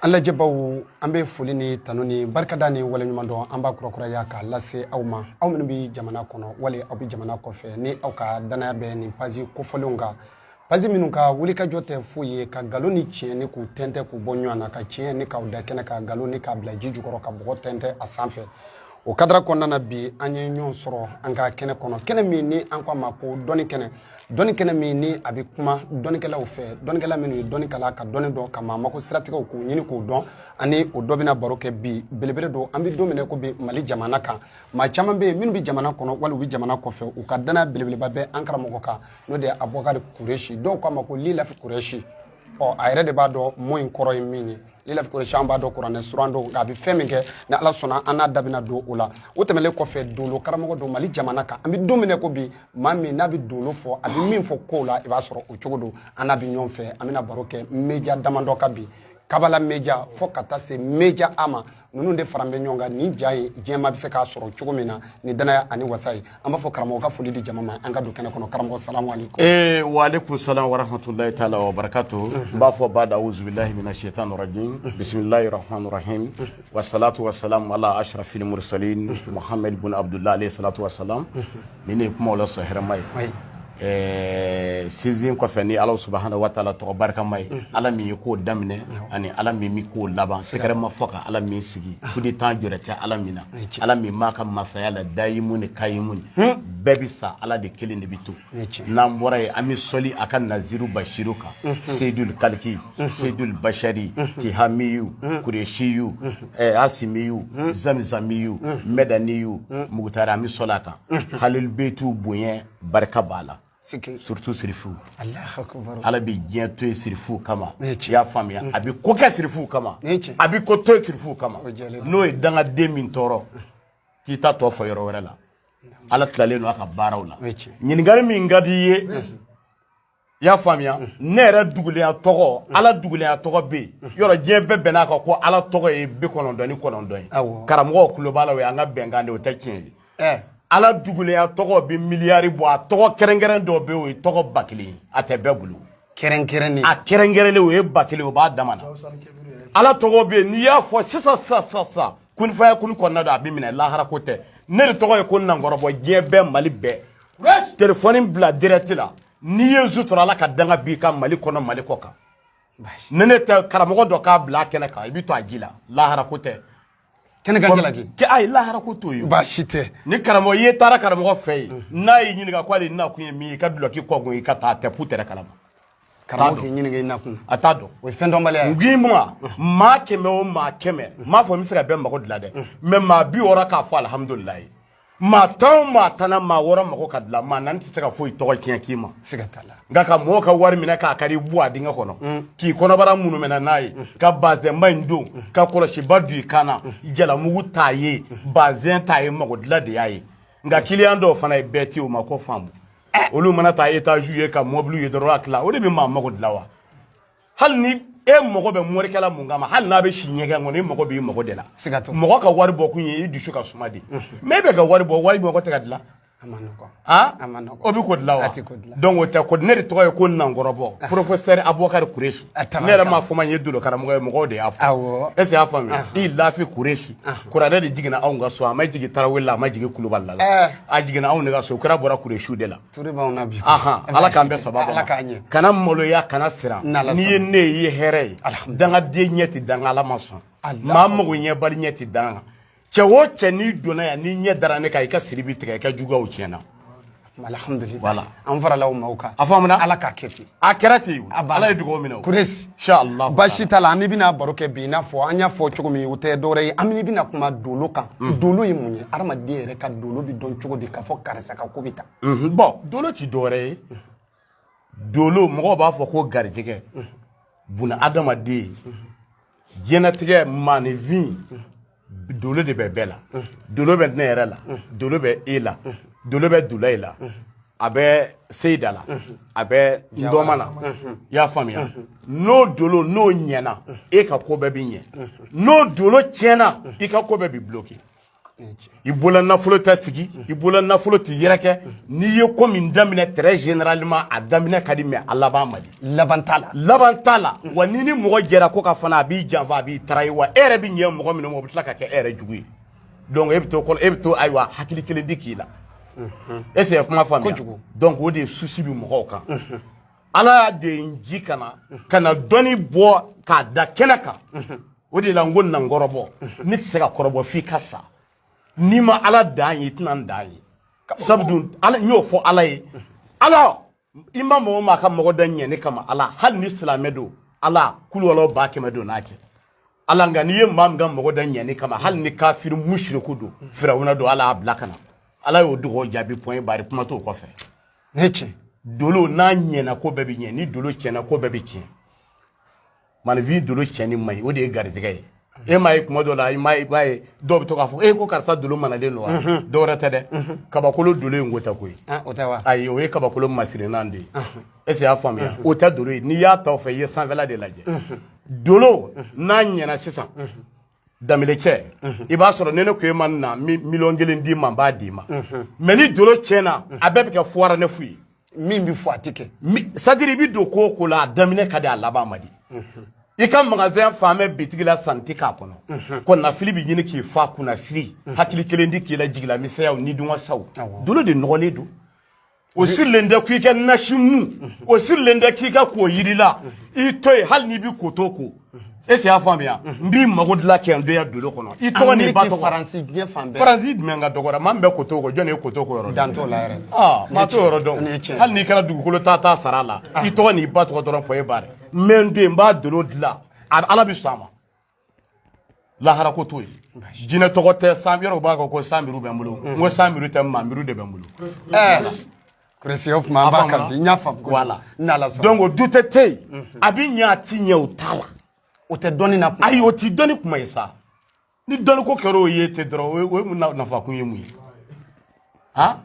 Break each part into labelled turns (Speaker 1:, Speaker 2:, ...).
Speaker 1: An lajɛbaw an bɛ foli ni tanu ni barikada ni waleɲuman dɔn an b'a kurakuraya k'a lase aw ma aw minnu bɛ jamana kɔnɔ wali aw bɛ jamana kɔfɛ ni aw ka danaya bɛ nin page kofɔlenw kan page minnu ka wulikajɔ tɛ foyi ye ka nkalon ni tiɲɛ nin k'u tɛntɛn k'u bɔ ɲɔgɔn na ka tiɲɛ nin k'a da kɛnɛ kan nkalon nin k'a bila ji jukɔrɔ ka bɔgɔ tɛntɛn a sanfɛ o kadara kɔnɔna na bi an ye ɲɔgɔn sɔrɔ an ka kɛnɛ kɔnɔ kɛnɛ min ni an k'a ma ko dɔnni kɛnɛ dɔnni kɛnɛ min ni a bɛ kuma dɔnnikɛlaw fɛ dɔnnikɛla minnu ye dɔnni kalan ka dɔnni dɔn ka maa mako siratigɛw k'o ɲini k'o dɔn ani o dɔ bɛna baro kɛ bi belebele don an bɛ don min n'i ko bi mali jamana kan maa caman bɛ yen minnu bɛ jamana kɔnɔ wali u bɛ jamana kɔfɛ u ka danaya belebeleba bɛ an karamɔgɔ kan n'o de ye abubakari kuresi dɔw k'a ma ko lilafi kuresi ɔ a yɛrɛ de b'a dɔn mɔ in kɔrɔ ye min ye lilafi kuresi an b'a dɔn kuranɛ suran don nka a bɛ fɛn min kɛ ni ala sɔnna an n'a da bɛna don o la o tɛmɛnlen kɔfɛ dolo karamɔgɔ don mali jamana kan an bɛ don min n'i ko bi maa min n'a bɛ dolo fɔ a bɛ min fɔ kow la i b'a sɔrɔ o cogo don an n'a bɛ ɲɔgɔn fɛ an bɛna baro kɛ média damadɔ kan bi kabala média fo ka taa se média a ma ninnu de faralen bɛ ɲɔgɔn kan ni ja ye jama bɛ se k'a sɔrɔ cogo min na ni danaya ani wasa ye an b'a fɔ karamɔgɔ ka foli di jama ma an ka don kɛnɛ kɔnɔ karamɔgɔ salamu aleykum ee wa aleykum salam wa rahmatulahi taala wa barakatu n b'a fɔ bada awuzubilahi mina shaitan rajim bisimilahi rahmani rahim wa salatu wa salam ala ashrafil mursalin muhammed bun abdullah alayhi salatu wa salam Ni ne ye kuma la sɔn hɛrɛma ye ɛɛ sinsin kɔfɛ ni ala subhanahu wa taala tɔgɔ barikama ye ala min ye ko daminɛ ani ala min bɛ ko laban sɛgɛrɛ ma fɔ ka ala min sigi coup d'état jɔrɛ tɛ ala min na ala min b'a ka masaya la dayimuni kayimuni bɛɛ bɛ sa ala de kelen de bɛ to n'an bɔra yen an bɛ sɔli a ka naziru basiru kan seyidul kaliki seyidul basari tihamiyu kuresiyu Hasimiyu zamuzamiyu madaniyu mukutari an bɛ sɔli a kan hali beti u bonya barika b'a la surutu sirifu ala bɛ diɲɛ to sirifu kama i y'a faamuya a bɛ ko kɛ sirifu kama a bɛ ko to sirifu kama n'o ye dangaden min tɔɔrɔ k'i taa t'o fɔ yɔrɔ wɛrɛ la ala tilennen don a ka baaraw la ɲininkali min ka di i ye i y'a faamuya mm. ne yɛrɛ dogolenya tɔgɔ mm. ala dogolenya tɔgɔ bɛ yen mm. yɔrɔ diɲɛ bɛɛ bɛnn'a kan ko ala tɔgɔ ye bi kɔnɔntɔn ni kɔnɔntɔn ye karamɔgɔ kulu b'a la o y'an ka bɛnkan de o tɛ tiɲɛ ye eh. ala dogolenya tɔgɔ bɛ miliyari bɔ a tɔgɔ kɛrɛnkɛrɛn dɔ bɛ yen o ye tɔgɔ ba kelen a tɛ bɛɛ bolo kɛrɛnkɛrɛnnen a kɛrɛnkɛrɛnnen o ye ba kelen o b'a dama na ala tɔgɔ bɛ yen n'i y'a fɔ sisan sisan sisan sisan kun fayakun kɔnɔna don a bɛ minɛ lahara ko tɛ ne de tɔgɔ ye ko n'an kɔrɔbɔ diɲɛ bɛɛ mali bɛɛ telefɔni bila dirɛti la n'i ye su tɔɔrɔ ala ka danga b'i kan mali kɔnɔ mali kɔ kan ni ne tɛ karamɔgɔ dɔ k'a bila a kɛnɛ kan i bɛ to a ji la lahara ko tɛ kɛnɛ kan jalaki kɛ ayi lahara ko t'o ye baasi tɛ ni karamɔgɔ i ye taara karamɔgɔ fɛ yen mm. n'a y'i ɲininka ko ale nakun ye min ye i ka dulɔki kɔkun i ka taa tɛ pu tɛrɛ kalama karamɔgɔ k'i ɲininka i nakun a t'a dɔn o ye fɛn dɔnbaliya ye ngin ma mm. maa kɛmɛ o maa kɛmɛ n mm. m'a fɔ n bɛ se ka bɛɛ mago dilan dɛ mɛ maa bi wɔɔrɔ k'a fɔ alihamudulilayi maa tan o maa tan na maa wɔɔrɔ mago ka dilan maa naani tɛ se ka foyi tɔgɔ tiɲɛ k'i ma siga t'a la nka ka mɔgɔw ka wari minɛ k'a kari bɔ a dingɛ kɔnɔ mm. k'i kɔnɔbara munumɛna n'a ye mm. ka bazɛnba in don mm. ka kɔlɔsiba don i kan na jalamugu t'a ye bazɛn t'a ye mago dilan de y'a ye nka kiliyan dɔw fana ye bɛɛ tɛ o ma ko faamu eh. olu mana taa etaziw ye ka mɔbiliw ye dɔrɔn a tila o de bɛ maa mago dilan wa hali ni e mago bɛ morikɛ la mun kama hali n'a bɛ si ɲɛgɛn kɔnɔ e mago b'i mago de la mɔgɔ ka wari bɔ kun ye i dusu ka suma de mɛ e bɛ ka wari bɔ wa i mago tɛ ka dilan o bɛ ko dilan wa donc o tɛ ko ne de tɔgɔ ye ko nankɔrɔbɔ professeur abubakari kuresi ne yɛrɛ m'a fɔ ma n ye dolo karamɔgɔ ye mɔgɔw de y'a fɔ est ce que y'a faamuya liilafi kuresi kuranɛ de jiginna anw ka so a ma jigin tarawele la a ma jigin kulubali la a jiginna anw de ka so kira bɔra kuresiw de la ala k'an bɛɛ saba ala k'an ɲɛ kana maloya kana siran n'i ye ne ye i ye hɛrɛ ye dangaden ɲɛ tɛ da n kan ala ma sɔn maa mago ɲɛbali ɲɛ tɛ da n kan cɛ o cɛ n'i donna yan n'i ɲɛ dara ne kan i ka siri bi tigɛ i ka juguyaw tiɲɛna alhamdulilayi an farala o ma o kan a fɔ an ala k'a kɛ ten a kɛra ten ala ye dugawu minɛ kuresi baasi t'a la an bɛna baro kɛ bi i n'a fɔ an y'a fɔ cogo min o tɛ dɔwɛrɛ ye an bɛna kuma dolo kan mm. dolo ye mun ye adamaden yɛrɛ ka dolo bɛ dɔn cogo di k'a fɔ karisa ka ko bɛ tan mm-hmm. bɔn dolo ti dɔwɛrɛ ye dolo mɔgɔw b'a fɔ ko garijɛgɛ mm. bunaadamaden mm-hmm. diɲɛnatigɛ maaninfin dolo de bɛ bɛɛ la dolo bɛ ne yɛrɛ la dolo bɛ e la dolo bɛ dulayi la a bɛ seyida la a bɛ ndɔma la i y'a faamuya n'o dolo n'o ɲɛna e ka ko bɛɛ bɛ ɲɛ n'o dolo tiɲɛna i ka ko bɛɛ bɛ buloki i bolola nafolo tɛ sigi i bolola nafolo tɛ yɛrɛkɛ n'i ye ko min daminɛ très généralement a daminɛ ka di mais a laban man di laban t'a la laban t'a la wa n'i ni mɔgɔ jɛra ko kan fana a b'i janfa a b'i tarayi wa e yɛrɛ bɛ ɲɛ mɔgɔ min ma o bɛ tila ka kɛ e yɛrɛ jugu ye donc e bɛ to e bɛ to ayiwa hakili kelen tɛ k'i la est ce que kuma faamuya donc o de ye souci bɛ mɔgɔw kan ala y'a de n ci ka na ka na dɔnni bɔ k'a da kɛnɛ kan o de la n ko na n kɔrɔbɔ ne tɛ se ka kɔrɔbɔ f'i ka sa n'i ma ala dan ye i tɛna n dan ye sabu dun ala n y'o fɔ ala ye ala i ma mɔgɔ min ka mago da ɲɛ ne kama ala hali ni silamɛ don ala kulukɔlɔ ba kɛmɛ don n'a kɛ ala nka n'i ye maa min ka mago da ɲɛ ne kama hali ni kafiri musiriku don firawuna don ala y'a bila ka na ala y'o dugawu jaabi point barre kuma t'o kɔfɛ ne cɛ dolo n'a ɲɛna ko bɛɛ bɛ ɲɛ ni dolo tiɲɛna ko bɛɛ bɛ tiɲɛ maaninfin dolo tiɲɛni man ɲi o de ye garijɛgɛ ye e m'a ye kuma dɔ la i m'a ye i b'a ye dɔw bɛ to k'a fɔ e ko karisa dolo manalen don wa dɔ wɛrɛ tɛ dɛ kabakolo dolo ye ngota ko ye o tɛ wa ayi o ye kabakolo masirinan de ye est-ce que y'a faamuya o tɛ dolo ye n'i y'a ta o fɛ i ye sanfɛla de lajɛ dolo n'a ɲɛna sisan danbelecɛ i b'a sɔrɔ ne ne ko e ma na miliyɔn kelen d'i ma n b'a d'i ma mais ni dolo tiɲɛna a bɛɛ bɛ kɛ fuwara ne fu ye min bɛ fɔ a tɛ kɛ c'est-à-dire i bɛ don ko o ko la a daminɛ ka di a laban man di i ka magasin falen bɛ bitigi la sanni tɛ k'a kɔnɔ kɔnɔnafili bɛ ɲini k'i fa kunnasiri hakili kelen ti k'i la jigilamisɛnyaw ni dunwasaw dolo de nɔgɔlen don o sirilen de k'i ka nasi mu o sirilen de k'i ka ko yiri la i to yen hali n'i bɛ kotoko e y'a faamuya n b'i mago dilan ka n to yan dolo kɔnɔ i tɔgɔ n'i ba tɔgɔ faransi diɲɛ fan bɛɛ faransi jumɛn ka dɔgɔra maa min bɛ kotoko jɔn de ye kotoko yɔrɔ dɔn t'o la yɛrɛ aa maa t'o yɔrɔ dɔn hali n'i kɛra dugukolo ta ta sara a la i tɔgɔ n'i ba tɔgɔ dɔrɔn point barre mɛ n den n b'a dolo dilan ala bɛ sɔn a ma lahara ko t'o ye jinɛ tɔgɔ tɛ cent euros b'a kɔ ko cent mille bɛ n bolo n ko cent mille tɛ vingt mille de bɛ n bolo kuresi o tuma an b'a kan bi n y'a faamu wala n'ala sɔnna donc o dute tɛ yen a bɛ ɲɛ a ti ɲɛ o t'a la o tɛ dɔnni na kuma ayi o ti dɔnni kuma ye sa ni dɔnni ko kɛra o ye ten dɔrɔn o ye o ye mun na- nafa kun ye mun ye ha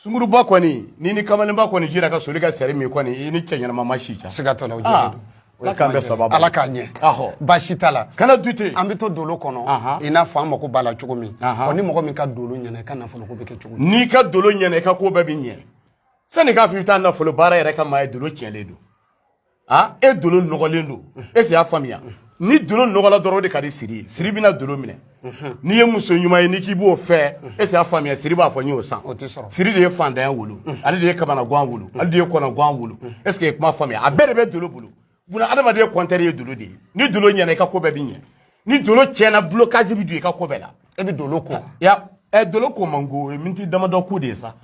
Speaker 1: sunguruba kɔni ni ni kamalenba kɔni jira ka soli ka sari min kɔni i ni cɛ ɲɛnama ma si ca siga t'a la o jɛlen ah, don ala k'an bɛɛ sababu ala k'a ɲɛ ahɔ baasi t'a la kana dute an bɛ to dolo kɔnɔ i n'a fɔ an mako b'a la cogo min wa ni mɔgɔ min ka dolo ɲɛna i ka nafolo ko bɛ kɛ cogo n'i ka dolo ɲɛna i ka ko bɛɛ bɛ ɲɛ sani k'a fɔ i bɛ taa nafolo baara yɛrɛ kɛ maa ye dolo tiɲɛlen don aa e dolo nɔgɔlen don e y'a faamuya ni dolo nɔgɔla dɔrɔn de ka di siri siri bɛna dolo minɛ n'i ye muso ɲuman ye n'i k'i b'o fɛ e y'a faamuya siri b'a fɔ n y'o san siri de ye fantanya wolo ale de ye kamanagan wolo ale de ye kɔnɔgan wolo e ye kuma faamuya a bɛɛ de bɛ dolo bolo buna adamaden kɔntɛri ye dolo de ye ni dolo ɲɛna i ka ko bɛɛ bɛ ɲɛ ni dolo tiɲɛna blocage bɛ don i ka ko bɛɛ la e bɛ dolo ko ya ɛ dolo ko man go o ye miniti damadɔ ko de ye sa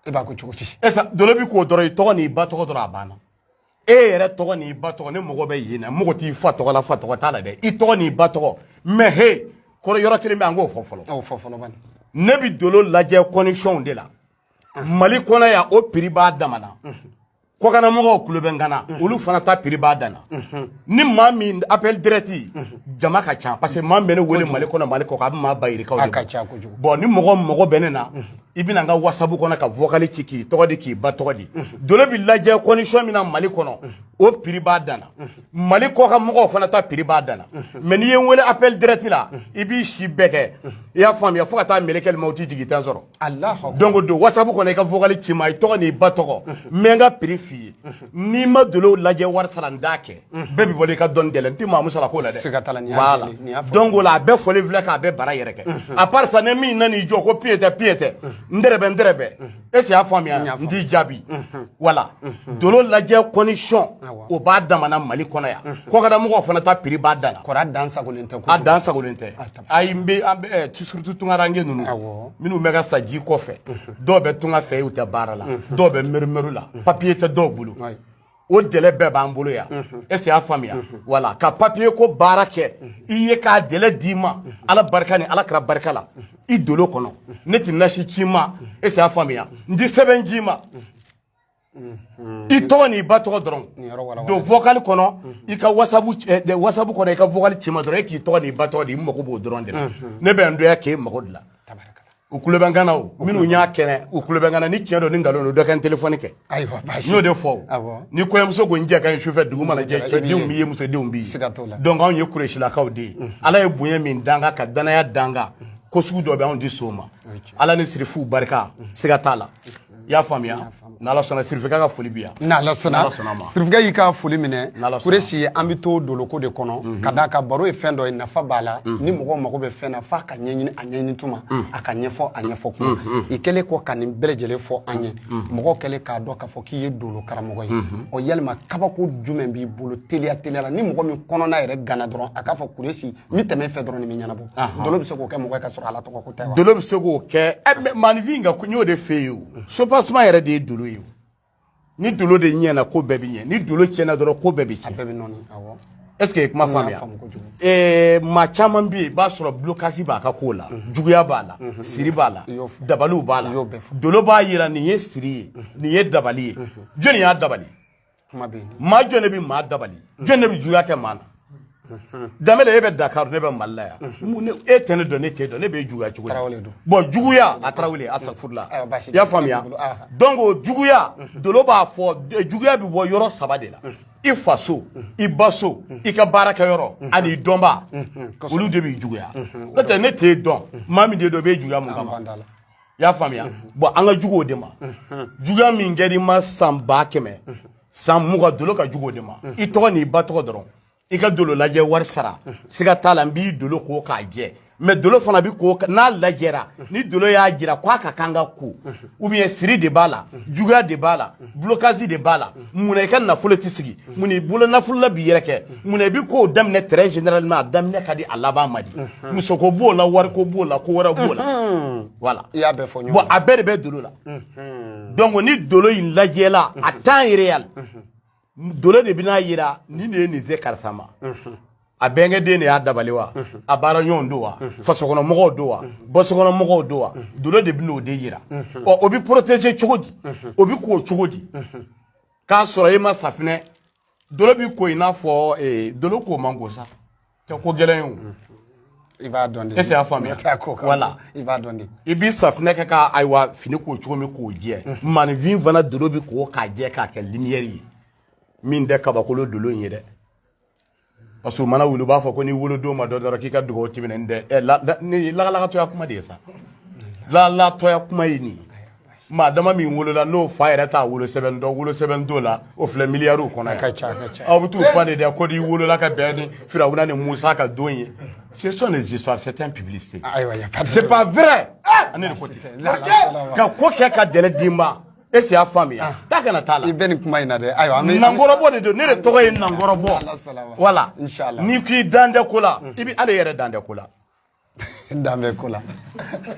Speaker 1: e b'a ko cogo di e sa dolo bɛ k'o dɔrɔn i tɔgɔ n'i ba tɔgɔ dɔrɔn a banna e yɛrɛ tɔgɔ n'i ba tɔgɔ ne mago bɛ nin na mago t'i fa tɔgɔ la fa tɔgɔ t'a la dɛ i tɔgɔ n'i ba tɔgɔ mɛ he kɔrɔ yɔrɔ kelen bɛ an k'o fɔ fɔlɔ a fɔ fɔlɔ bani ne bɛ dolo lajɛ kɔndisiyɔnw de la mali kɔnɔ yan o piri b'a dama na kɔkanna mɔgɔw tulo bɛ n kan na mhm. olu fana ta piri b'a danna mhm. ni maa min appel direct mhm. jama ka ca parce que maa bɛ ne wele mali kɔnɔ mali kɔkan a bɛ maa ba yirikaw de bɔ ni mɔgɔ mago bɛ ne na i bɛ na n ka wasabu kɔnɔ ka vokali ci k'i tɔgɔ di k'i ba tɔgɔ di dolo bɛ lajɛ condition min na mali kɔnɔ o piri b'a danna mali kɔkan mɔgɔw fana ta piri b'a danna mɛ n'i ye n wele appel direct la i b'i si bɛɛ kɛ i y'a faamuya fo ka taa mɛlɛkɛlimawuti jigin i tɛ n sɔrɔ Don ko don wasabu kɔnɔ i ka vokali ci n ma i tɔgɔ n'i ba tɔgɔ mɛ ka piri f'i ye n'i ma dolo lajɛ wari sara n da kɛ bɛɛ bɛ bɔ i ka dɔn gɛlɛn n' mamu sara ko la dɛ ko la a bɛɛ foli filɛ k'a bɛɛ bara yɛrɛ kɛ a karisa ne min nana' jɔ ko pyeyita pyetɛ n n e y'a faamuya n t'i jaabi wala dolo lajɛ condition b'a dama na mali kɔnɔ yan kɔkanna mɔgɔw fana ta piri b'a dan dan tɛ dan tɛ ayi n bɛ an bɛ eh, tu- surtout tungaranke ninnu Awɔ. minnu bɛ ka sa ji kɔfɛ dɔw bɛ tunga fɛ yen u tɛ baara la dɔw bɛ mɛrimɛri la papiye tɛ dɔw bolo Ayi. o dɛlɛ bɛɛ b'an bolo yan est-ce qu'i y'a faamuya wala ka papiye ko baara kɛ i ye k'a dɛlɛ d'i ma ala barika ni ala kira barika la i dolo kɔnɔ ne tɛ nasi ci i ma est-ce qu'i y'a faamuya n tɛ sɛbɛn d'i ma i tɔgɔ n'i ba tɔgɔ dɔrɔn don vokali kɔnɔ i ka wasabu kɔnɔ i ka vokali ci n ma dɔrɔn e k'i tɔgɔ n'i ba tɔgɔ di ne mago b'o dɔrɔn de la ne bɛ n doya k'e mago dilan u tulo bɛ n kan na o minnu y'a kɛnɛ u tulo bɛ n kan na ni tiɲɛ don ni nkalon don dɔ ka n telefɔni kɛ n y'o de fɔ ni kɔɲɔmuso ko n cɛ ka ɲi sufɛ dugu mana jɛ cɛdenw b'i ye musodenw b'i ye donc anw ye kuresilakaw de ye ala ye bonya min d'an kan ka danaya d'an kan ko sugu dɔ bɛ anw di so ma ala ni sirifuw barika siga t'a la i y'a faamuya n'ala sɔnna sirifika ka foli bi yan n'ala sɔnna sirifika y'i ka foli minɛ kuresi an bɛ to doloko de kɔnɔ mhm. ka d'a kan baro ye fɛn dɔ ye nafa b'a la mhm. ni mɔgɔw mago bɛ fɛn na f'a ka ɲɛɲini a ɲɛɲini tuma mhm. a ka ɲɛfɔ a ɲɛfɔ tuma i kɛlen kɔ ka nin bɛɛ lajɛlen fɔ an ye mɔgɔw kɛlen k'a dɔn k'a fɔ k'i ye dolo karamɔgɔ ye ɔ yalima kabako jumɛn b'i bolo teliya teliya la ni mɔgɔ min kɔnɔna yɛrɛ ganna dɔrɔn a k'a fɔ kuresi n bɛ tɛmɛ fɛ dɔrɔn nin bɛ ɲɛnabɔ dolo bɛ se k'o kɛ mɔgɔ ka sɔrɔ ala tɔgɔ ko tɛ dolo bɛ se k'o kɛ ɛ maaninfin ka n y'o de fɛ yen o soubassement yɛrɛ de ye dolo ye ni dolo de ɲɛna ko bɛɛ bɛ ɲɛ ni dolo tiɲɛna dɔrɔn ko bɛɛ bɛ tiɲɛ bɛɛ bɛ nɔɔni awɔ est-ce que kuma faamuya ɛɛ maa caman bɛ yen i b'a sɔrɔ bulokasi b'a ka ko la juguya b'a la siri b'a la dabaliw b'a la dolo b'a jira nin ye siri ye nin ye dabali ye jɔni y'a dabali kuma bɛ yen maa jɔn de bɛ maa dabali jɔn de bɛ juguya kɛ maa na danbɛlɛ e bɛ dakar ne bɛ mali la yan e tɛ ne dɔn ne t'e dɔn ne b'e juguya cogo di bɔn juguya a tarawele a safurula i y'a faamuya donc o juguya dolo b'a fɔ juguya bɛ bɔ yɔrɔ saba de la i faso i ba so i ka baarakɛyɔrɔ ani i dɔnbaa olu de b'i juguya n'o tɛ ne t'e dɔn maa min t'e dɔn b'e juguya mun kama i y'a faamuya bɔn an ka jugu o de ma juguya min kɛra i ma san ba kɛmɛ san mugan dolo ka jugu o de ma i tɔgɔ n'i ba tɔgɔ dɔrɔn i ka dolo lajɛ wari sara siga t'a la n b'i dolo ko k'a jɛ mɛ dolo fana bɛ ko n'a lajɛra ni dolo y'a jira k'a ka kan ka ko ou bien siri de b'a la juguya de b'a la blocage de b'a la munna i ka nafolo tɛ sigi mun i bolo nafolo la bɛ yɛrɛkɛ mun i bɛ kow daminɛ très généralement a daminɛ ka di a laban ma di musoko b'o la wariko b'o la ko wɛrɛ b'o la voilà i y'a bɛɛ fɔ ɲɔgɔn bon a bɛɛ de bɛ dolo la donc ni dolo in lajɛla à temps réel dolo de bɛna yira nin de ye nin se karisa ma a bɛnkɛden de y'a dabali wa a baara ɲɔgɔn don wa fasokɔnɔ mɔgɔw don wa bɔsokɔnɔ mɔgɔw don wa dolo de bɛn'o de yira ɔ o bɛ poroteje cogo di o bɛ ko cogo di k'a sɔrɔ e ma safinɛ dolo bɛ ko i n'a fɔ eh, dolo ko man go sa tɛ ko gɛlɛn ye o i b'a dɔn de Est-ce i y'a faamuya? Mɛ taa ko kan. Wala. i b'a dɔn de i b'i safinɛ kɛ ka ayiwa fini ko cogo min k'o jɛ maaninfin fana dolo bɛ ko k'a jɛ k'a kɛ limiyɛri ye min tɛ kabakolo dolo in ye dɛ parce que u mana wuli u b'a fɔ ko n'i wolodon ma dɔn dɔrɔn k'i ka dugawu tɛ minɛ nin tɛ ɛ la ni lagalagatɔya kuma de ye sa lagalagatɔya kuma ye nin maa dama min wolola n'o fa yɛrɛ t'a wolosɛbɛn dɔn wolosɛbɛn t'o la o filɛ miliyariw kɔnɔ ka ca ka ca aw bɛ t'u fa de dɛ ko n'i wolola ka bɛn ni firawuna ni musa ka don ye ce sont des histoires c'est un publicité ayiwa c'est pas vrai ani de ko tɛ ka ko kɛ ka dɛrɛ d'i ma est-ce i y'a faamuya ah. k'a kana t'a la i bɛ nin kuma in na dɛ ayiwa an bɛ nankɔrɔbɔ de don ne de tɔgɔ ye nankɔrɔbɔ wala n'i k'i dan tɛ ko la i bɛ ale yɛrɛ dan tɛ ko la dan bɛ ko la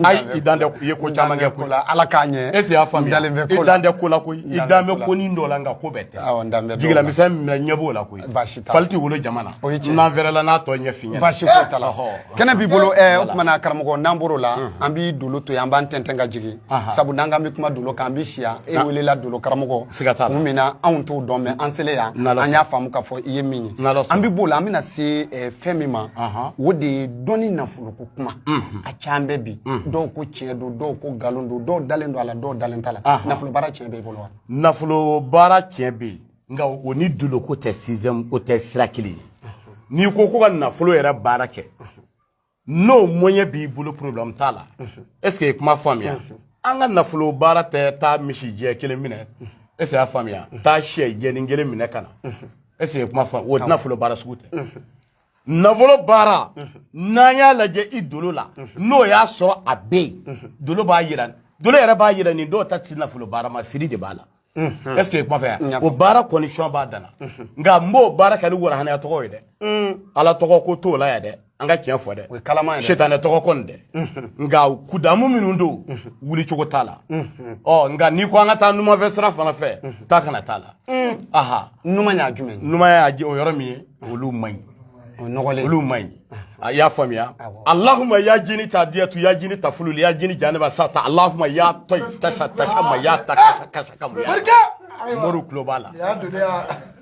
Speaker 1: ayi i dan tɛ i ye ko caman kɛ ko la ala k'a ɲɛ est-ce i y'a faamuya i dan tɛ ko la koyi i dan bɛ ko ni dɔ la nka ko bɛɛ tɛ awɔ n dan bɛ jigila misɛn minɛ ɲɛ b'o la koyi baasi t'a la fali tɛ wolo jama na o ye tiɲɛ ye n'an fɛrɛla n'a tɔ ɲɛf'i ɲɛna baasi foyi t'a la kɛnɛ b'i bolo eh, o tumana karamɔgɔ n'an bɔr'o la an b'i dolo to yen an b'an tɛntɛn ka jigin sabu n'an k'an bɛ kuma dolo kan an bɛ si yan e welela dolo karamɔgɔ siga t'a la kun min na anw t'o dɔn mɛ an selen yan an y'a faamu k'a fɔ i ye min ye an bɛ b'o la an bɛna se eh, fɛn min ma o de ye dɔnni nafoloko kuma a can bɛ bi dɔw ko tiɲɛ don dɔw ko nkalon don dɔw dalen don a la dɔw dalen t'a la nafolo baara tiɲɛ bɛ i bolo wa nafolo baara tiɲɛ bɛ yen nka o ni dolo ko tɛ sixième o tɛ sira kelen ye n'i ko ko ka nafolo yɛrɛ baara kɛ n'o moyen b'i bolo problème t'a la est ce que i kuma faamuya an ka nafolo baara tɛ taa misi jɛ kelen minɛ est ce que y'a faamuya taa sɛ jɛnin kelen minɛ ka na est ce que i kuma faamuya o nafolo baara sugu tɛ nafolo baara n'an y'a lajɛ i dolo la n'o y'a sɔrɔ a bɛ yen dolo b'a yira dolo yɛrɛ b'a yira nin dɔw ta tɛ nafolo baara ma siri de b'a la est ce que kuma faamuya o baara condition b'a dana nka n b'o baara kɛ ni warahanaya tɔgɔ ye dɛ ala tɔgɔ ko t'o la yan dɛ an ka tiɲɛ fɔ dɛ setanɛ tɔgɔ ko don dɛ nka kudamu minnu don wuli cogo t'a la ɔ nka n'i ko an ka taa numanfɛ sira fana fɛ taa ka na t'a la aha numanya jumɛn numanya o yɔrɔ min ye olu man ɲi olu ma ɲi a y'a faamuya alahuma ya jini ta diyatu ya jini ta fululi ya jini janeba sa ta alahuma y'a tɔ tasa tasa ma y'a ta kasa kasa ka mu y'a mori tulo b'a la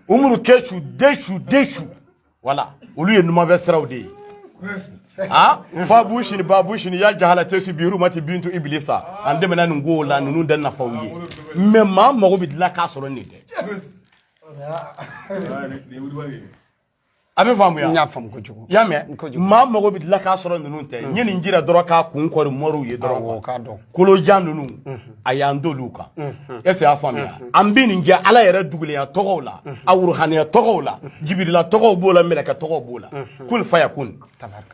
Speaker 1: umuru kesu desu desu wala olu ye numanfɛ siraw de ye ha fa bushini ba bushini ya jahala tesi biru mati bintu iblisa an dɛmɛna nin ko la ninnu da nafaw ye mɛ maa mago bɛ dilan k'a sɔrɔ nin tɛ a bɛ faamuya n y'a faamu kojugu i y'a mɛn maa mago bɛ dilan k'a sɔrɔ ninnu tɛ n ye nin jira dɔrɔn k'a kun kɔri moriw ye dɔrɔn k'a dɔn kolojan ninnu a y'an d'olu kan est ce y'a faamuya an bɛ nin kɛ ala yɛrɛ dugulenya tɔgɔw la a wuruhaniya tɔgɔw la jibirila tɔgɔw b'o la mɛlɛkɛ tɔgɔw b'o la kun faya kun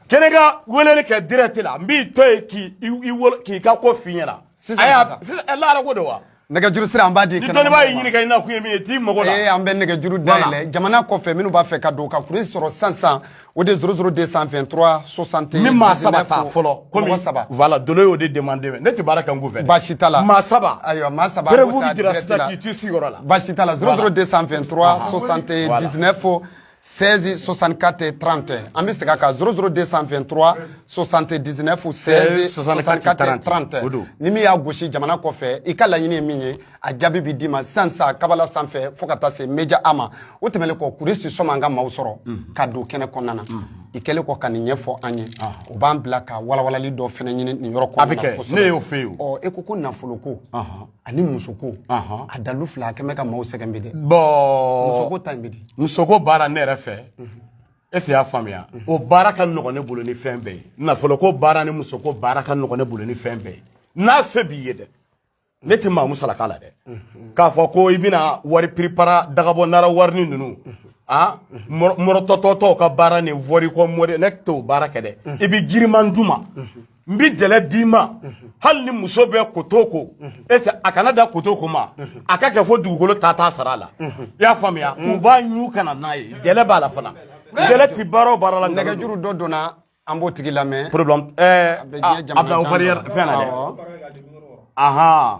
Speaker 1: kɛnɛ ka weleli kɛ direct la n b'i to yen k'i ka ko f'i ɲɛna sisan sisan ala ko de wa nɛgɛjuru sira an b'a di ni dɔnnibaa y'i ɲininka i na kun ye min ye t'i mago la ee an bɛ nɛgɛjuru dayɛlɛ jamana kɔfɛ minnu b'a fɛ ka don ka kuresi sɔrɔ sisan o de zéro zéro deux cent vingt trois soixante n bɛ maa saba ta fɔlɔ komi saba voilà dolo y'o de demande ne tɛ baara kɛ n kunfɛ baasi t'a la maa saba ayiwa maa saba preuve bɛ jira sisan k'i t'i sigiyɔrɔ la baasi t'a la zéro zéro deux cent vingt trois soixante dix neuf 16 64 30 an bɛ segin a kan 00 223 79 16 64 30 o don ni min y'a gosi jamana kɔfɛ i ka laɲini ye min ye a jaabi bɛ d'i ma sisan sa kabala sanfɛ fo ka taa se meja a ma o tɛmɛnen kɔ kuresi sɔni an ka maaw sɔrɔ ka don kɛnɛ kɔnɔna na i kɛlen kɔ ka nin ɲɛfɔ an ye o b'an bila ka walawalali dɔ fɛnɛ ɲini nin yɔrɔ kɔnɔna na a bɛ kɛ ne y'o fɛ yen e ko ko nafolo ko ani musoko a dalu fila a kɛlen bɛ ka maaw sɛgɛn bi dɛ musoko ta in bɛ di musoko baara ne yɛrɛ fɛ est ce y'a faamuya o baara ka nɔgɔn ne bolo ni fɛn bɛɛ ye nafolo ko baara ni musoko baara ka nɔgɔn ne bolo ni fɛn bɛɛ ye n'a se b'i ye dɛ ne tɛ maa musalaka la dɛ k'a fɔ ko i bɛna wari piripara dagabɔ nara warini ninnu a mɔrɔtɔtɔtɔw ka baara ni wɔrikɔ mori ne t'o baara kɛ dɛ i bɛ giriman d'u ma n bi jɛlɛ d'i ma hali ni muso bɛ koto ko ese a kana da koto ko ma a ka kɛ fo dugukolo ta t'a sara la i y'a faamuya u b'a ɲu kana n'a ye jɛlɛ b'a la fana jɛlɛ ti baara o baara la nɛgɛjuru dɔ donna an b'o tigi lamɛn problème ɛɛ a bila o barrière fɛn na dɛ ahan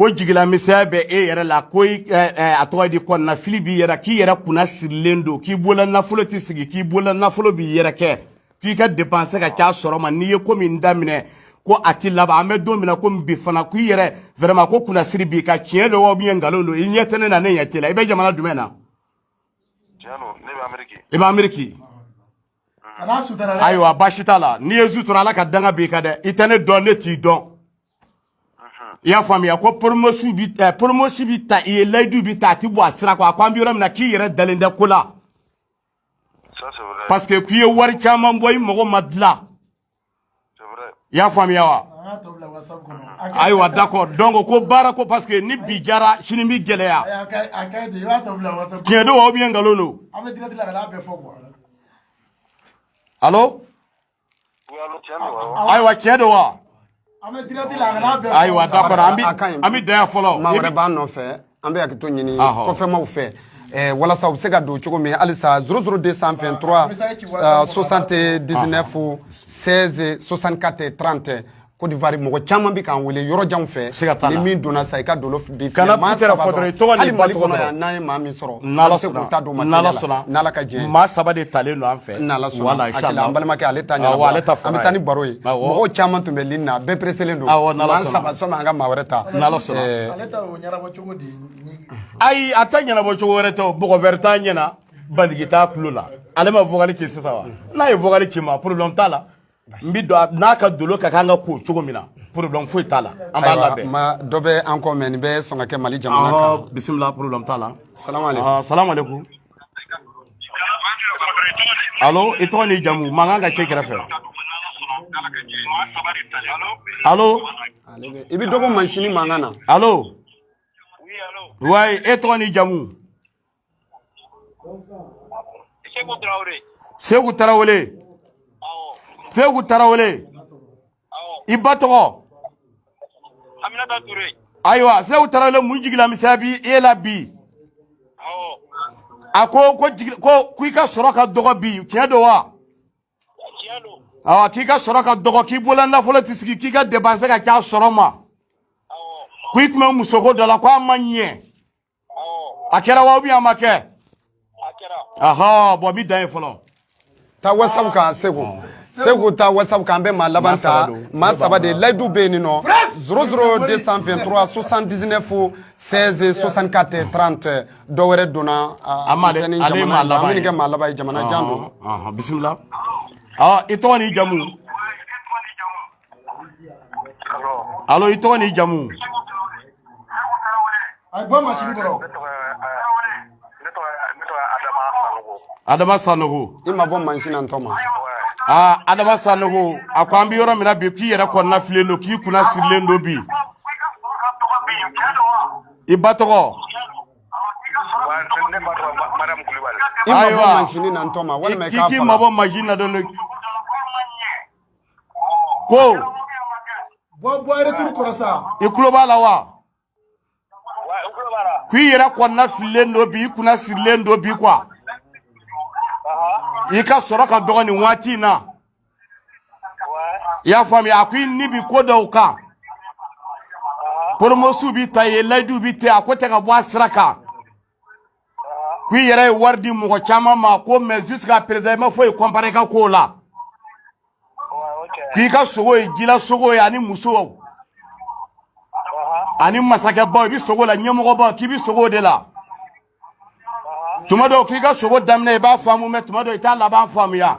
Speaker 1: ko jigilamisɛnya bɛ e yɛrɛ la ko eh, eh, a tɔgɔ di kɔnɔnafili b'i yɛrɛ k'i yɛrɛ kunnasirilen don k'i bolola nafolo tɛ sigi k'i bolola nafolo bi yɛrɛkɛ k'i ka depanse ka ca sɔrɔ ma n'i ye ko min daminɛ ko a ti laban an bɛ don min na ko bi fana k'i yɛrɛ vraiment ko kunnasiri b'i kan tiɲɛ don wa ou bien nkalon don i ɲɛ tɛ ne na ne ɲɛ t'i la i bɛ jamana jumɛn na i bɛ ameriki kana sutura dɛ ayiwa baasi t'a la n'i ye n sutura ala ka danga b'i kan dɛ i tɛ ne dɔn ne t'i dɔn i y'a faamuya ko promesse bi eh, promesse bi ta i ye layidu bi ta a ti bɔ a sira kan a ko an bɛ yɔrɔ min na k'i yɛrɛ dalen tɛ ko la parce que k'i ye wari caman bɔ i mago ma dilan i y'a faamuya wa ayiwa d'accord donc ko baarako parce que ni bi diyara sini bi gɛlɛya tiɲɛ don wa ou bien nkalon don allo ayiwa tiɲɛ don wa an bɛ direct la a kana bɛn ayiwa d'accord an a ka ɲi. bɛ an bɛ dan yan fɔlɔ maa wɛrɛ b'an nɔfɛ an bɛ hakɛto ɲini Ahɔ. kɔfɛmaw fɛ Eh, walasa u bɛ se ka don cogo min halisa 00 223 message ci WhatsApp kɔnɔ, 79 16 64 30 Côte d'Ivoire mɔgɔ caman bɛ k'an wele yɔrɔ janw fɛ Sika t'a la. ni min donna sa i ka dolo filɛ kana pitɛrɛ fɔ dɔrɔn i tɔgɔ n'i ba tɔgɔ dɔrɔn n'an ye maa min sɔrɔ n'ala sɔnna ta don n'ala sɔnna n'ala ka jɛ maa saba de talen don an fɛ n'ala sɔnna wala inshallah an balimakɛ ale ta ɲɛna ale ta an bɛ taa ni baro ye mɔgɔw caman tun bɛ ligne na bɛɛ pereselen don awɔ n'ala sɔnna saba sɔnna an ka maa wɛrɛ ta n'ala sɔnna ale ta o ɲɛnabɔ cogo di ayi a ta ɲɛnabɔ cogo wɛrɛ tɛ mɔgɔ wɛrɛ t'a ɲɛna bandigi t'a tulo la ale ma vokali kɛ sisan wa n'a ye vokali kɛ mais problème t'a la n bi don n'a ka dolo ka kan ka ko cogo min na problème foyi t'a la an b'a labɛn maa dɔ bɛ an kɔfɛ nin bɛ sɔn ka kɛ mali jamana kan bisimila problème t'a la salamu aleykum alo i tɔgɔ n'i jamu mankan ka ca i kɛrɛfɛ alo i bɛ dɔ bɔ mansini mankan na alo wayi e tɔgɔ n'i jamu Seku tarawele seku tarawele i ba tɔgɔ ayiwa seku tarawele mun jigilamisɛnya bi e la bi a ko ko ko i ka sɔrɔ ka dɔgɔ bi tiɲɛ don wa k'i ka sɔrɔ ka dɔgɔ k'i bolola nafolo tɛ sigi k'i ka depanse ka ca sɔrɔ ma ko i tun bɛ musoko dɔ la ko a ma ɲɛ a kɛra wa ubiyɛn a ma kɛ ahɔn bɔn mi dan ye fɔlɔ ta wasabu kan segu segu ta wasabu kan an bɛ maa laban ta maa saba de layidu bɛ yen nɔ zoro zoro 223 79 16 64 30 dɔ wɛrɛ donna a ma ale ale maa laban ye kɛ maa laban ye jamana jan don bisimila ɔ i tɔgɔ n'i jamu alo i tɔgɔ ni jamu adama sanogo i mabɔ mansin na n tɔma aa adama sanogo a ko an bɛ yɔrɔ min na bi k'i yɛrɛ kɔnɔna fililen don k'i kunna sirilen don bi i ba tɔgɔ ayiwa k'i mabɔ mansin na dɔɔni ko bɔ bɔ yɛrɛ tulo kɔrɔ sa i kulo b'a la wa k'i yɛrɛ kɔnɔna fililen don bi i kunna sirilen don bi quoi i ka sɔrɔ ka dɔgɔ nin waati in na i y'a faamuya a ko i ni bi ko dɔw kan poromosiw bi ta i ye layiduw bi ta a ko tɛ ka bɔ a sira kan ko i yɛrɛ ye wari di mɔgɔ caman ma ko mɛ jusqu'à présent i ma foyi comprendre i ka kow la k'i ka sogo ye jila sogo ye ani muso ani masakɛbaw i bɛ sogo la ɲɛmɔgɔbaw k'i bɛ sogo de la tuma dɔw k'i ka sogo daminɛ i b'a faamu mɛ tuma dɔw i t'a laban faamuya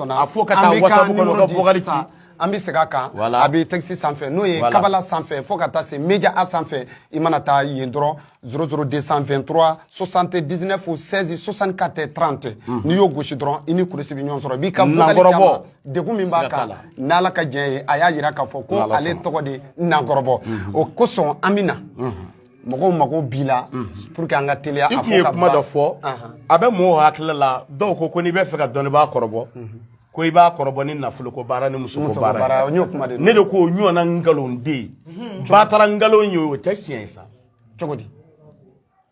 Speaker 1: a fo ka taa wasabu kɔnɔ ka vocal ci an bɛ segin a kan a bɛ tɛkisi sanfɛ n'o ye kabala sanfɛ fo ka taa se meja a sanfɛ i mana taa yen dɔrɔn zoro zoro deux cent vingt-trois soixante-dix-neuf seize soixante-quatre trente n'i y'o gosi dɔrɔn i ni kuresi bɛ ɲɔgɔn sɔrɔ b'i ka vocal degun min b'a kan n'ala ka diɲɛ ye a y'a jira k'a fɔ ko ale tɔgɔ de nankɔrɔbɔ o kosɔn an bɛ na mɔgɔw mago b'i la pour que an ka teliya i tun ye kuma dɔ fɔ a bɛ mɔgɔw hakili la dɔw ko ko n'i b'a fɛ ka dɔnnibaa kɔrɔbɔ ko i b'a kɔrɔbɔ ni nafolo ko baara ni muso ko baara ne de ko ɲɔgɔnna nkalon de batara nkalon ye o tɛ tiɲɛ ye sa cogo di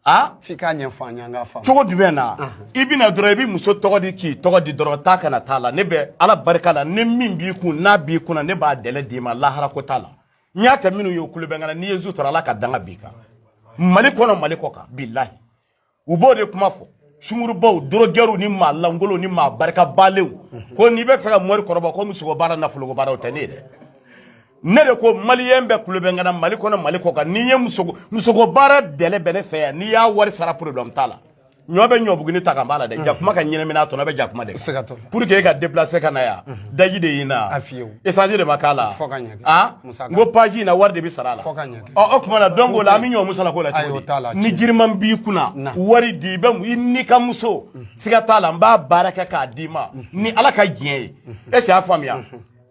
Speaker 1: a f'i k'a ɲɛfɔ an ye an k'a faamu cogo jumɛn na i bɛna dɔrɔn i bɛ muso tɔgɔ di k'i tɔgɔ di dɔrɔn taa ka na t'a la ne bɛ ala barika la ni min b'i kun n'a b'i kunna ne b'a délai d'i ma lahara ko t'a la n y'a kɛ minnu ye u kulo bɛ n kan na n'i ye n sutura ala ka danga b'i kan mali kɔnɔ mali kɔ kan bilahi u b'o de kuma fɔ sungurubaw dorogɛriw ni maa lankolon ni maa barikabalenw ko n'i b'a fɛ ka mori kɔrɔbɔ ko musoko baara nafoloko baaraw tɛ ne ye dɛ ne de ko maliyɛn bɛɛ kulo bɛ n kan na mali kɔnɔ mali kɔ kan n'i ye musoko baara délai bɛ ne fɛ yan n'i y'a wari sara problème t'a la ɲɔ bɛ ɲɔbuguni ta ka b'a la dɛ jakuma ka ɲinɛmina tɔnɔ bɛ jakuma de kan pour que e ka déplacer ka na yan daji de y'i na essence de ma k'a la a n ko page in na wari de bɛ sara a la ɔ o tuma na donc o la an bɛ ɲɔ musaka ko la cogo di ni giriman b'i kunna wari di i bɛ i n'i ka muso siga t'a la n b'a baara kɛ k'a d'i ma ni ala ka diɲɛ ye est ce que y'a faamuya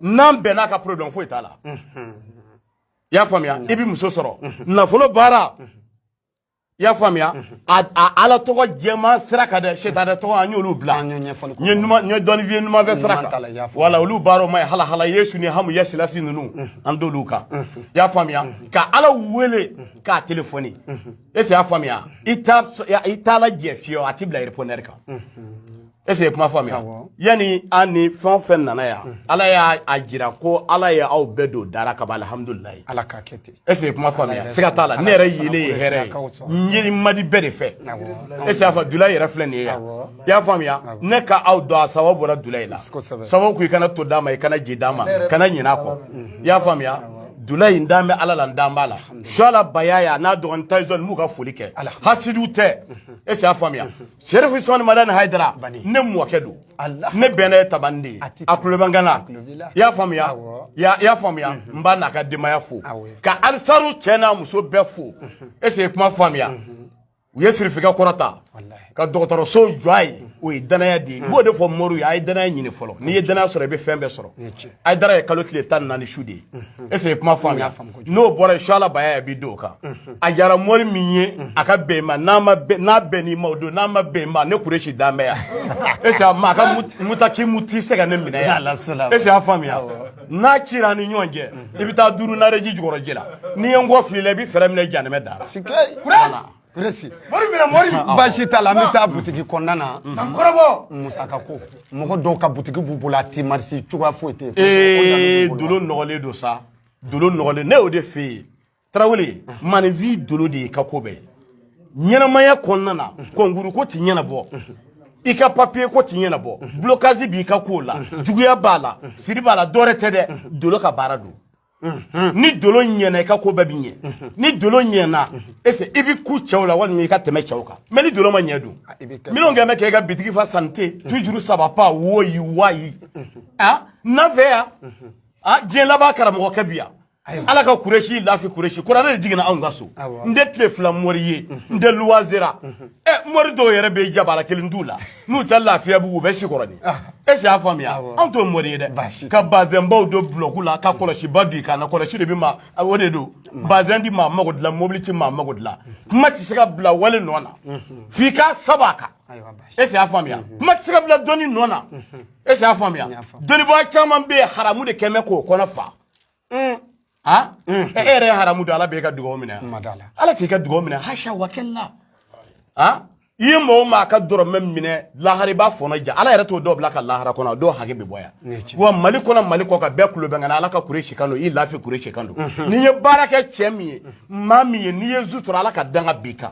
Speaker 1: n'an bɛnna ka problème foyi t'a la i y'a faamuya i bɛ muso sɔrɔ nafolo baara i y'a faamuya ala tɔgɔ jɛman sira kan dɛ c'est à dire tɔgɔ an y'olu bila n ye dɔnnifiye numan fɛ sira kan wala olu baaraw ma ye halahala yesu ni hamu yasilasi ninnu an t'olu kan i y'a faamuya ka ala wele k'a telefɔni est ce y'a faamuya i t'ala jɛ fiyewu a t'i bila répondeur kan est ce que kuma faamuya yani an ni fɛn o fɛn nana yan mm. ala y'a jira ko ala ye aw bɛɛ don dara ka ban alihamudulilayi ala ka kɛ ten est ce que kuma faamuya siga t'a la ne yɛrɛ yelen ye hɛrɛ ye n ye madi bɛɛ de fɛ est ce que a fɔ dula yɛrɛ filɛ nin ye yan i y'a faamuya ne ka aw dɔn a sababu bɔra dula in la sababu ko i kana to d'a ma i kana ji d'a ma kana ɲin'a kɔ mm. i y'a faamuya dula in dan bɛ ala la n dan b'a la suala bayaya n'a dɔgɔnin taison m'u ka foli kɛ hasidiw tɛ mm-hmm. est ce que a faamuya mm-hmm. Sɛrifu Usumani Madani Hayidara ne mɔkɛ don ne bɛnna ye Tamani de ye a tulo bɛ n kan na i y'a faamuya i y'a faamuya n b'a n'a ka denbaya fo ka Ansaru cɛ n'a muso bɛɛ fo est ce que i ye kuma faamuya u ye sirifikɛ kɔrɔta ka dɔgɔtɔrɔso jɔ a ye o ye danaya de ye n b'o de fɔ moriw ye a ye danaya ɲini fɔlɔ n'i ye danaya sɔrɔ i bɛ fɛn bɛɛ sɔrɔ Hayidara ye kalo tile tan ni naani su de ye est ce que i ye kuma faamuya. n'o bɔra yen suala bayaya bi don kan a jara mori min ye a ka bɛn ma n'a ma n'a bɛn n'i ma o don n'a ma bɛn ma ne kuresi dan bɛ yan est a ma a ka mutaki muti se ka ne minɛ yan est ce y'a faamuya n'a cira ni ɲɔgɔn cɛ i bɛ taa duuru nareji jukɔrɔji la n'i ye n kɔ fili la i bɛ fɛɛrɛ minɛ janɛmɛ dara Resi. Mori mina mori. Baasi t'a la an bɛ taa butigi kɔnɔna na. Ka kɔrɔbɔ. Musaka ko. Mɔgɔ dɔw ka butigi b'u bolo a ti marisi cogoya foyi tɛ yen. Ee dolo nɔgɔlen don sa. dolo nɔgɔlen ne y'o de f'e ye tarawele maninfin dolo de y'i ka ko bɛɛ ɲɛnamaya kɔnɔna na kɔnkuru ko ti ɲɛnabɔ i ka papiye ko ti ɲɛnabɔ blocage b'i ka kow la juguya b'a la siri b'a la dɔwɛrɛ tɛ dɛ dolo ka baara don ni dolo ɲɛna i ka ko bɛɛ bi ɲɛ ni dolo ɲɛna ese i bi kun cɛw la walima i ka tɛmɛ cɛw kan mais ni dolo ma ɲɛ dun minnu kɛ bɛ kɛ i ka bitigi fa santé toujours ça va pas woyi wayi a na n fɛ yan a diɲɛ laban karamɔgɔ kɛ bi yan ala ka kuresi lafi kuresi kuranɛ de jiginna anw ka so n tɛ tile fila mɔri ye n tɛ luwaze ra ɛ mɔri dɔw yɛrɛ bɛ jabala kelen t'u la n'u tɛ lafiyabugu u bɛ sikɔrɔ de e si y'a faamuya anw t'o mɔri ye dɛ ka bazɛnbaw don dulɔkiba ka kɔlɔsiba don i kan na kɔlɔsi de bɛ ma o de don bazɛn ti maa mago dilan mobili ti maa mago dilan kuma tɛ se ka bila wale nɔ na f'i k'a saba kan e si y'a faamuya kuma tɛ se ka bila dɔnni nɔ na e y'a faamuya dɔnnibaa caman bɛ yen haramu de kɛmɛ k'u kɔnɔ fa mm. ha mm. e yɛrɛ ye haramu dun ala bɛ e ka dugawu minɛ ala k'i ka dugawu minɛ hasha wa kala ha i ye mɔgɔ maa ka dɔrɔmɛ minɛ lahara i b'a fɔnɔ ja ala yɛrɛ t'o dɔw bila ka lahara kɔnɔ dɔw hakɛ bɛ bɔ yan wa mali kɔnɔ mali kɔkan bɛɛ kulo bɛ n kan na ala ka kuresi kan don i lafi kuresi kan don n'i ye baara kɛ cɛ min ye maa min ye n'i ye zu sɔrɔ ala ka danga b'i kan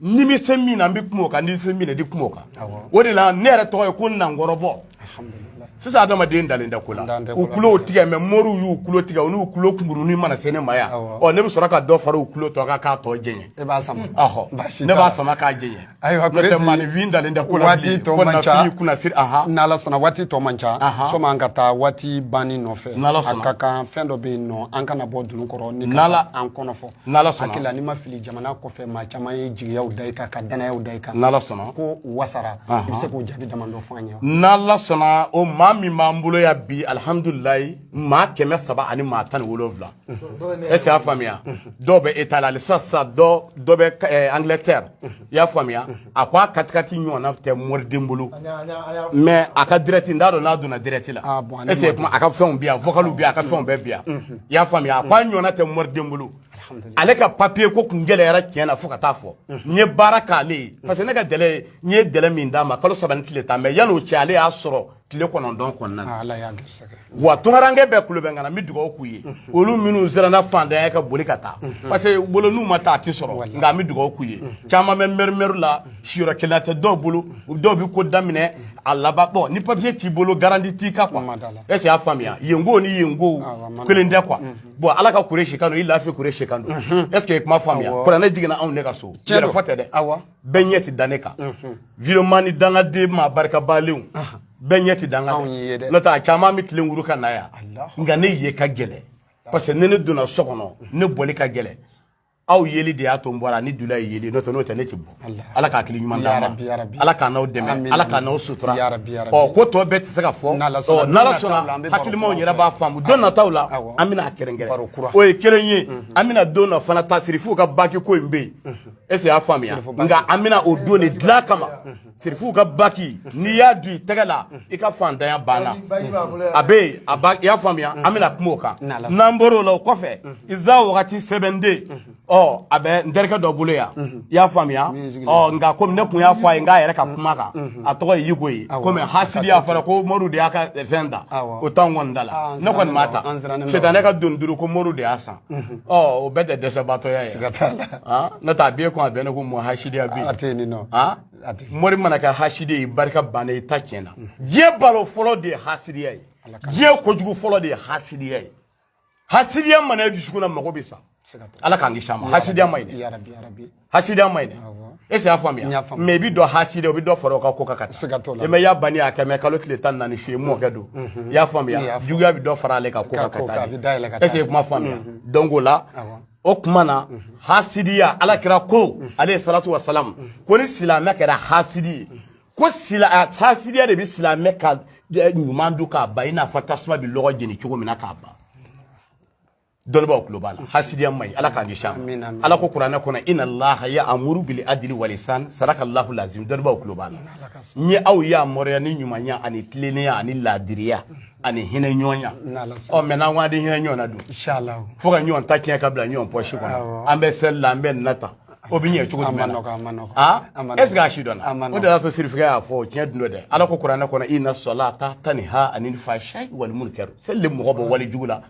Speaker 1: ne bɛ se min na n bɛ kuma o kan n ti se min na n ti kuma o kan o de la ne yɛrɛ tɔgɔ ye ko nankɔrɔbɔ sisan adamaden dalen tɛ ko la u tulo tigɛ mɛ mɔriw y'u tulo tigɛ u n'u tulo kunkuruni mana se ne ma yan ɔ ne bɛ sɔrɔ ka dɔ fara u tulo tɔ kan k'a tɔ janya e b'a sama ɔhɔ ne b'a sama k'a janya ayiwa n'o tɛ maanifin dalen tɛ ko la waati tɔ man ca ko kunna siri ahan n'ala sɔnna waati tɔ man ca sanni an ka taa waati banni nɔfɛ n'ala sɔnna a ka kan fɛn dɔ bɛ yen nɔ an kana bɔ dunun kɔrɔ ni ka an kɔnɔ fɔ n'ala sɔnna hakili la ni n ma fili jamana kɔfɛ maa caman ye jigiya da i kan ka dannaya da i kan n'ala sɔnna ko u wasara i bɛ se k'o jate damadɔ fɔ an ye n'ala sɔnna o maa min b'an bolo ya bi alihamudulilayi maa kɛmɛ saba ani maa tan ni wolonwula est ce que y'a faamuya dɔw bɛ itali halisa sisan dɔ dɔ bɛ angilɛtɛri i y'a faamuya a ko a katikati ɲɔgɔnna tɛ mɔriden bolo mais a ka direct n t'a dɔn n'a donna direct la ah, ese kuma a ka fɛnw bi yan vocal bi a ka fɛnw bɛɛ bi yan mhm. i y'a faamuya a ko a ɲɔgɔnna tɛ mɔriden bolo ale ka papiye ko kun gɛlɛyara tiɲɛ na fo ka taa fɔ mhm. n ye baara k'ale ye parce que ne ka délai ye n ye délai min d'a ma kalo saba ni tile tan mais yan'o cɛ ale y'a sɔrɔ tile kɔnɔntɔn kɔnɔna na ah, wa tungaranke bɛɛ kulo bɛ n kan na n bɛ dugawu k'u ye mhm. olu minnu siranna fantanya ka boli ka taa mhm. parce que bolo n'u ma taa a tɛ sɔrɔ nka an bɛ dugawu k'u ye mhm. caman bɛ mɛrimɛri la siyɔrɔ kelen tɛ dɔw bolo dɔw bɛ ko daminɛ a laban bɔn ni papiye t'i bolo garanti t'i kan quoi est ce que y'a faamuya yenko ni yenko ah, kelen tɛ quoi bɔn ala ka kuresi kan don i lafi kuresi kan don est ce que i kuma faamuya kuranɛ jiginna anw de ka so yɛrɛfo tɛ dɛ bɛɛ ɲɛ tɛ da ne kan vraiment ni dangaden maa barikabalenw bɛɛ ɲɛ tɛ da n kan Anw y'i ye dɛ. n'o tɛ a caman bɛ tilen wuru ka na yan Alahu nka ne ye ka gɛlɛ parce que ni ne donna so kɔnɔ ne bɔli ka gɛlɛ aw yeli de y'a to n bɔra ni dula ye yeli n'o tɛ n'o tɛ ne tɛ bɔ Alahu. ala k'a hakili ɲuman Ya d'a ma Rabbi, ya Rabbi. ala k'an n'aw dɛmɛ Amin, ala k'a amin. n'aw sutura Ya Rabbi, ya Rabbi. ɔ ko tɔ bɛɛ tɛ se ka fɔ N'Ala sɔnna, Ɔ, n'ala don nataw la, an sɔnna bɛ baro hakilimaw kura yɛrɛ kɛ. b'a faamu don nataw la Awɔ. an bɛna a kɛrɛnkɛrɛn Baro kura. o ye kelen ye an bɛna don na fana tasirifuw ka baki ko in bɛ yen ese y'a faamuya nka an bɛna o don de dilan kama sirifuw ka baki n'i y'a don i tɛgɛ la i ka faantanya banna a bɛ yen a ba i y'a faamuya an bɛna kuma o kan n'an bɔr'o la o kɔfɛ iza wagati sɛbɛnden ɔ a bɛ n terikɛ dɔ bolo yan i y'a faamuya ɔ nka komi ne tun y'a fɔ a ye n k'a yɛrɛ ka kuma kan a tɔgɔ ye yiko ye komi hasidi y'a fɔra ko mori de y'a ka fɛn ta o t'anw kɔni da la ne kɔni m'a ta sitanɛ ka doni duuru ko mori de y'a san ɔ o bɛɛ tɛ dɛsɛbaatɔya ye siga t'a la ah, n'o tɛ a b'e kun a bɛnnen ko mɔɔ hasidiya bɛ yen a tɛ yen nin nɔ ah, a tɛ mori mana kɛ hasidi ye barika bannen i ta tiɲɛna diɲɛ balawu fɔlɔ de ye hasidiya ye diɲɛ kojugu fɔlɔ de ye hasidiya ye hasidiya mana e dusukun na mago bɛ sa siga t'a la ala k'an kisi a ma hasidiya ma ɲi dɛ ya rabi ya rabi hasidiya man ɲi e y'a faamuya mɛ i bɛ dɔ hasidiya o bɛ dɔ fara o ka ko ka taa i ma y'a banni a kɛ mɛ kalo tile tan naani su ye mɔkɛ don i y'a faamuya juguya bɛ dɔ fara ale ka ko ka taa ese ye kuma faamuya dɔn ko la o tuma na hasidiya ala kira ko aleyi salatu wa salamu ko ni silamɛ kɛra hasidi ye ko hasidiya de bɛ silamɛ ka ɲuman dun k'a ban i n'a fɔ tasuma bɛ lɔgɔ jeni cogo min na k'a ban dɔnnibaaw tulo b'a la hasidiya man ɲi ala k'an kisi a ma ala ko kuranɛ kɔnɔ ina laha ya amuru bili adili walisan sadaka lahu lazim dɔnnibaaw tulo b'a la n ye aw yamaruya ni ɲumanya ani tilennenya ani laadiriya ani hinɛ ɲɔgɔnya ɔ mɛ n'an ko an tɛ hinɛ ɲɔgɔn na dun fo ka ɲɔgɔn ta tiɲɛ ka bila ɲɔgɔn pɔsi kɔnɔ an bɛ seli la an bɛ nina ta o bɛ ɲɛ cogo jumɛn na ah? est ce que a si dɔnna o de y'a to sirifikɛ y'a fɔ tiɲɛ dun don dɛ ala ko kuranɛ kɔnɔ ina sɔlata taniha anili fashayi wali munkari seli de mɔgɔ bɔ wale jugu la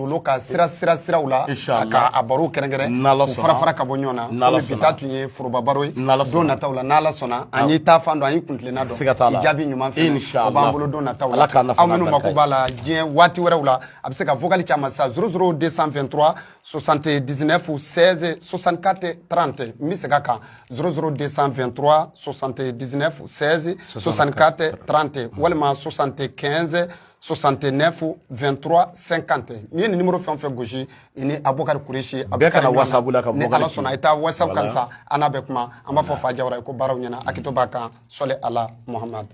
Speaker 1: olu ka sira sira siraw la k'a baro kɛrɛnkɛrɛn n'ala sɔnna fara fara ka bɔ ɲɔgɔn na n'ala sɔnna bi ta tun ye foroba baro ye n'ala sɔnna don nataw la n'ala sɔnna an y'i ta fan dɔn an y'i kuntilenna dɔn siga t'a la jaabi ɲuman fɛ o b'an bolo don nataw la aw minnu mako b'a la diɲɛ waati wɛrɛw la a bɛ se ka vocal ci an ma sa 00 223 79 16 64 30 n bɛ segin a kan 00 223 79 16 64 30 walima 75 69 23 50 n'i ye nin numéro fɛn o fɛn gosi i ni Abubakari Kuresi bɛ kuma whatsapp la ka ni Ala sɔnna i taa whatsapp kan sa an n'a bɛ kuma an b'a fɔ Fa Jawara ye ko baaraw ɲɛna hakɛto b'a kan sɔli ala Muhamadu